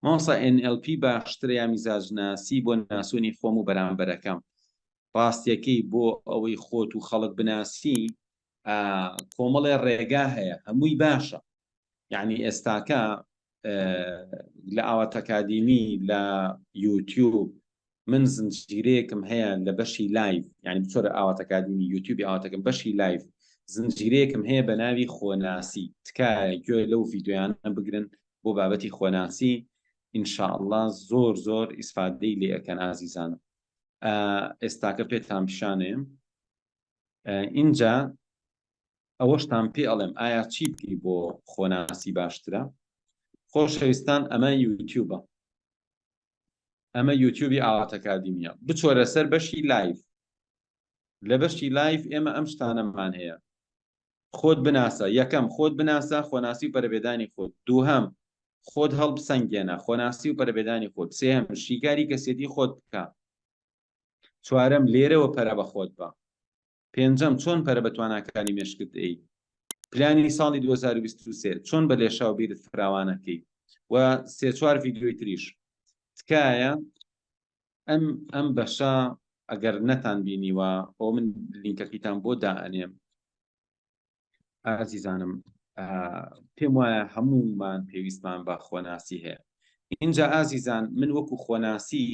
مامۆستا ئێن ئێڵ پی باشترە یا میزاجناسی بۆ ناسونی خۆم و بەرامبەرەکەم ڕاستەکەی بۆ ئەوەی خۆت و خەڵک بناسی کۆمەڵێ ڕێگا هەیە هەمووی باشە یعنی ئێستاکە لە ئاوات ئەکادیمی لە یوتیوب من زنجیرەیەکم هەیە لە بەشی لایڤ یعنی بچۆرە ئاواتەکادینی یوتیوبی ئاواتەکەم بەشی لایڤ زنجیرەیەکم هەیە بە ناوی خۆناسی تکایە گوێ لەو ڤیددیویانە بگرن بۆ بابەتی خۆناسی ئینشاءله زۆر زۆر ئیسفادەی لێ ئەەکەن ئازیزانم ئێستاکە پێتان پیشانێم ئینجا ئەوەشتان پێ ئەڵێم ئایا چی بکەی بۆ خۆناسی باشترە خۆشەویستان ئەمە یوتیوبە ئەمە یوتیوبی ئاواتەکادیمیە بچۆرە سەر بەشی لایف لە بەشی لایف ئێمە ئەم شتانەمان هەیە خۆت بناسە یەکەم خۆت بناسە خۆناسی و پەربێدانی خۆت دووهەم خۆت هەڵب سنگێنە خۆناسی و پەربێدانی خۆت سێهم شیکاری کەسێتی خۆت بکە چوارم لێرەوە پەرە بە خۆت بە پێنجەم، چۆن پەرە بە تواناکانی مێشکت دەیەیت؟ پلانی ساڵی دوو هەزار و بیست و سێ، چۆن بە لێشاو بیرت فراوانەکەی؟ و سێ چوار ڤیدیۆی تریش. تکایە ئەم ئەم بەشە ئەگەر نەتان بینیوە ئەوە من لینکەکەیتان بۆ دائەنێم. ئازیزانم پێم وایە هەموومان پێویستمان بە خۆناسی هەیە اینجا ئازیزان من وەکو خۆناسی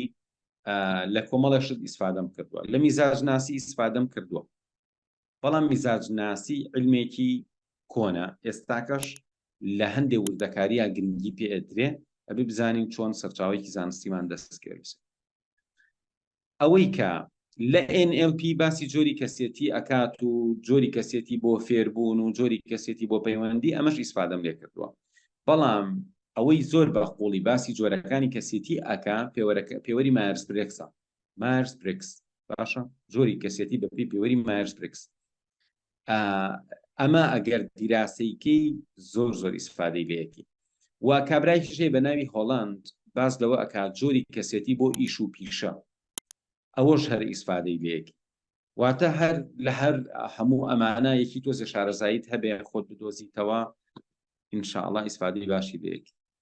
لە کۆمەڵە شت ئیسفادەم کردووە لە میزاج ناسی ئیسفادەم کردووە بەڵام میزاج ناسی علمێکی کۆنە ئێستاکەش لە هەندێک وردەکاریە گرنگی پێدرێ ئەبێ بزانین چۆن سەرچاوێکی زانستیمان دەستکرد ئەوەی کە لە NLP باسی جۆری کەسێتی ئەکات و جۆری کەسێتی بۆ فێربوون و جۆری کەسێتی بۆ پەیوەندی ئەمەش ئیسفادەم لێ کردووە بەڵام ئەوەی زۆر بە قوڵی باسی جۆرەکانی کەسێتی ئەکا پێوەرەکە پێوەری مارس برێکسە مارس برێکس باشە جۆری کەسێتی بەپی پێوەری مارس برێکس ئەمە ئەگەر دیراسەیکەی زۆر زۆر ئیسفادەی لەیەکی و کابرای شێ بە ناوی هۆڵاند باس لەوە ئەک جۆری کەسێتی بۆ ئیش و پیشە ئەوەش هەر ئیسفادەی لەیەکی واتە هەر لە هەر هەموو ئەمانە یەکی تۆزە شارەزاییت هەبێ خۆت بدۆزیتەوە ئینشاءله ئیسفادی باشی لەیەکی